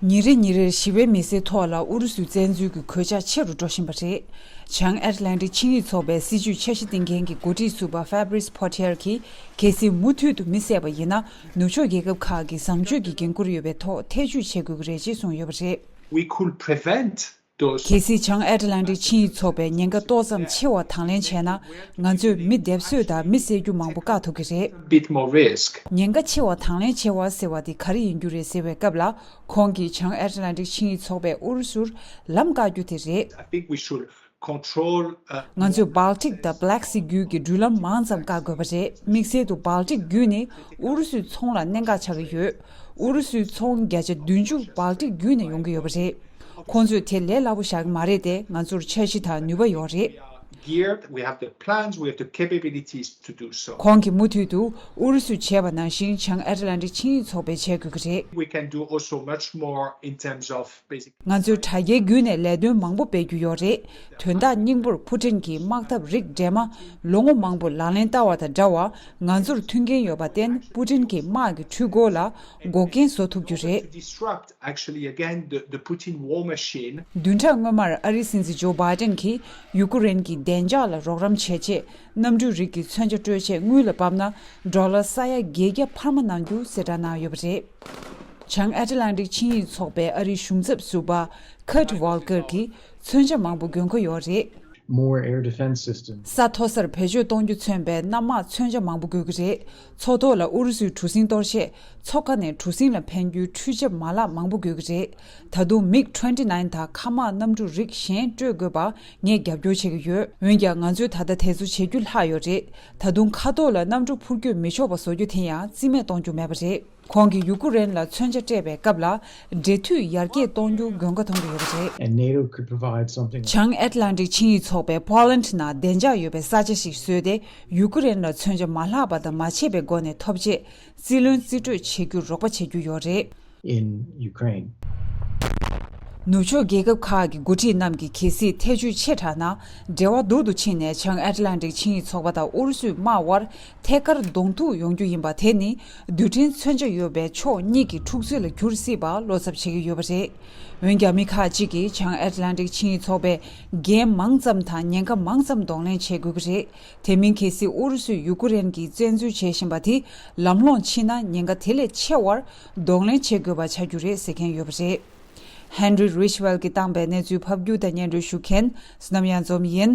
ཉིན་རེ་ཉིན་རེར་ཞི་བའི་མི་སེར་ཐོག་ལ་ཨུ་རུ་སུའི་བཙན་འཛུལ་གྱི་གོད་ཆག་ཆེ་རུ་འགྲོ་བཞིན་པ་རེད། བྱང་ཨེར་ལན་ཏི་ཆིངས་ཡིག་ཚོགས་པའི་སྲིད་ཇུས་འཆར་གཞི་བཏིང་མཁན་གྱི་འགོ་ཁྲིད་ཟུར་པ Fabrice Potier གྱིས་གལ་སྲིད་མུ་མཐུད་དུ་མི་བསད་པ་ཡིན་ན་ནུབ་ཕྱོགས་རྒྱལ་ཁབ་ཁག་གིས་བཟང་སྤྱོད་ཀྱི་འགན་ཁུར་ཡོད་པའི་ཐོག་ཐེ་བྱུས་བྱེད་དགོས་ཀྱི་རེད་ཅེས་གསུངས་ཡོད་པ་རེད། We could prevent ཏོ། གལ་སྲིད་བྱང་ཨེ་ཏི་ལན་ཏིག་ཆིངས་ཡིག་ཚོགས་པའི་ཉེན་ཁ་ཏོག་ཙམ་ཆེ་བ་དང་ལེན་བྱས་ན་ང་ཚོས་མི་སྡེབ་གསོད་དང་མི་བསད་རྒྱུ་མང་པོ་བཀག་ཐུབ་ཀྱི་རེད། Bit More Risk། ཉེན་ཁ་ཆེ་བ་དང་ལེན་བྱེད་བ་ཟེར་བ་དེ་ག་རེ་ཡིན་རྒྱུ་རེད་ཟེར་བའི་སྐབས་ལ་ཁོང་གིས་བྱང་ཨེ་ཏི་ལན་ཏིག་ཆིངས་ཡིག་ཚོགས་པས་ཨུ་རུ་སུར་ལམ་བཀག་རྒྱུ་དེ་རེད། I think we should control a ང more ཚོས Baltic དང Black Sea རྒྱུད་ཀྱི་འགྲུལ་ལམ་མང་ཙམ་བཀག་དགོས་པ་རེད་དམིགས་བསལ་དུ Baltic རྒྱུད་ནི་ཨུ་རུ་སུའི་ཚོང་ལ་གནད་འགག་ཆགས་ཀྱི་ཡོད། ཨུ་རུ་སུའི་ཚོང་བརྒྱ་ཆ་བདུན་ཅུ་བག་གྲེ་བརྒྱུད་ནས་ཡོང་གི་ཡོད་པ་རེད། ཁོང་ཚོས་དེ་ལས་སླ་པོ་བཞག་གི་མ་རེད་དེ་ང་ཚོར་འཆར་གཞི་དང་ནུས་པ་ཡོད་རེད། ཁོང་གིས་མུ་མཐུད་དུ་ཨུ་རུ་སུས་བྱས་པ་ནང་བཞིན་བྱང་ཨེ་ཏི་ལན་ཏིག་ཆིངས་ཡིག་ཚོགས་པའི་བྱེད་དགོས་ཀྱི་རེད། ང་ཚོས་དྲ་རྒྱའི་བརྒྱུད་ནས་ལས་དོན་མང་པོ་སྤེལ་རྒྱུ་ཡོད་རེད་དོན་དག་སྙིང་པོར་ཕུ་ཁྲེང་གིས་དམག་འཐབ་རིགས་འདྲེས་མ་ལོ་ངོ་མང་པོ་ལག་ལེན་བསྟར་བ་དང་འདྲ་བར་ང་ཚོར་མཐུན་རྐྱེན་ཡོད་པར་བརྟེན་ཕུ་ཁྲེང་གིས་དམག་གི་འཕྲུལ་འཁོར་ལ་འགོག་རྐྱེན་བཟོ་ཐུབ་རྒྱུ་རེད། བདུན་ཕྲག་སྔོན་མར་ཨ་རིའི་སྲིད་འཛིན་ཇོ་སྦའི་ཏེན་གྱིས་ཡུ་ཀུ་རེན་གྱི་བདེ་འཇགས་ལ་རོགས་རམ་བྱེད་ཆེད། གནམ་གྲུའི་རིགས་ཀྱི་མཚོན་ཆ་སྤྲོད་ཆེད་དངུལ་ལ་བབས་ན་འབྲོག་ལ་ས་ཡ་བརྒྱད་བརྒྱ་འཕར་མ་གནང་རྒྱུ་གསལ་བསྒྲགས་གནང་ཡོད་པ་རེད། བྱང་ཨ་ཏི་ལན་ཏིག་ཆིངས་ཡིག་ཚོགས་པའི་ཨ་རིའི་གཞུང་ཚབ་ཟུར་པ Kurt Volker གྱིས་མཚོན་ཆ་མང་པོ་འགོད་མཁོ་ཡོད་རེད། ས་མཐོ་སར་བེད་སྤྱོད་གཏོང་རྒྱུ་མཚོན་པའི་གནམ་དམག་མཚོན་ཆ་མང་པོ་དགོས་ཀྱི་རེད། ཚོགས་ཐོག་ལ་ཨུ་རུ་སུའི་གྲུ་གཟིངས་གཏོར་ཆེད་མཚོ་ཁ་ནས་གྲུ་གཟིངས་ལ་འཕེན་རྒྱུའི་འཕྲུལ་ཆབ་མ་ལག་མང་པོ་དགོས་ཀྱི་རེད། ད་དུང་མིག་ཏྲེནྟི་ནཱིན་དང་མཁའ་དམག་གནམ་གྲུ་རིགས་གཞན་སྤྲོད་དགོས་པ་ངས་རྒྱབ་སྐྱོར་བྱེད་ཀྱི་ཡོད། འོན་ཀྱང་ང་ཚོས་ད་ལྟ་དེ་ཚོ་བྱེད་རྒྱུ་ལྷག་ཡོད་རེད། ད་དུང་མཁའ་ཐོག་ལ་གནམ་གྲུ་འཕུར་སྐྱོད་མི་ཆོག་པ་བཟོ་རྒྱུ་དེ་ཡང་རྩིས་མེད་གཏོང་རྒྱུ་མེད་པ་རེད། ཁོང་གིས་ཡུ་ཀུ་རེན་ལ་མཚོན་ཆ་སྤྲད་པའི་སྐབས་ལ་འབྲེལ་མཐུད་ཡར་རྒྱས་གཏོང་རྒྱུ་དགོས་མཁོ་མཐོང་གི་ཡོད་པ་རེད། བྱང་ཨེ་ཏི་ལན་ཏིག་ཆིངས་ཡིག་ཚོགས་པས Poland ན་བདེ་འཇགས་ཡོད་པའི་ས་ཆ་ཞིག་བཟོས་ཏེ་ཡུ་ཀུ་རེན་ལ་མཚོན་ཆ་མ་ལྷག་པ་དང་མ་ཆད་པའི་སྒོ་ནས་ཐོབ་ཆེད་རྩིས་ལོན་རྩིས་སྤྲོད་བྱེད་རྒྱུར་རོགས་པ་བྱེད་རྒྱུ་ཡོད་རེད། ནུབ་ཕྱོགས་རྒྱལ་ཁབ་ཁག་གི་འགོ་ཁྲིད་རྣམས་ཀྱིས་གལ་སྲིད་ཐེ་བྱུས་ཆེ་དྲགས་ན་འབྲེལ་བ་སྡུག་ཏུ་ཕྱིན་ནས་བྱང་ཨེ་ཏི་ལན་ཏིག་ཆིངས་ཡིག་ཚོགས་པ་དང་ཨུ་རུ་སུའི་དམག་དབར་ཐད་ཀར་གདོང་ཐུག་ཡོང་རྒྱུ་ཡིན་པ་དེ་ནི་རྡུལ་ཕྲན་མཚོན་ཆ་ཡོད་པའི་ཕྱོགས་གཉིས་ཀྱི་འཁྲུག་རྩོད་ལ་འགྱུར་སྲིད་པ་བློ་འཚབ་བྱེད་ཀྱི་ཡོད་པ་རེད། འོན་ཀྱང་མི་ཁག་ཅིག་གིས་བྱང་ཨེ་ཏི་ལན་ཏིག་ཆིངས་ཡིག་ཚོགས་པས་འགན་མང་ཙམ་དང་ཉེན་ཁ་མང་ཙམ་གདོང་ལེན་བྱེད་དགོས་ཀྱི་རེད། དེ་མིན་གལ་སྲིད་ཨུ་རུ་སུས་ཡུ་ཀུ་རེན་གྱིས་བཙན་འཛུལ་བྱེད་བཞིན་པ་དེ་ལམ་ལྷོང་ཕྱིན་ན་ཉེན་ཁ་དེ་ལས་ཆེ་བར་གདོང་ལེན་བྱེད་དགོས་པ་ཆགས་རྒྱུ་རེད་ཟེར་མཁན་ཡོད་པ་རེད། Henry Ridgewell གྱིས་བཏང་པའི་གནས་ཚུལ་ཕབ་སྒྱུར་དང་སྙན་སྒྲོན་ཞུ་མཁན་སུ་ནམ་ཡང་འཛོམས་ཡིན།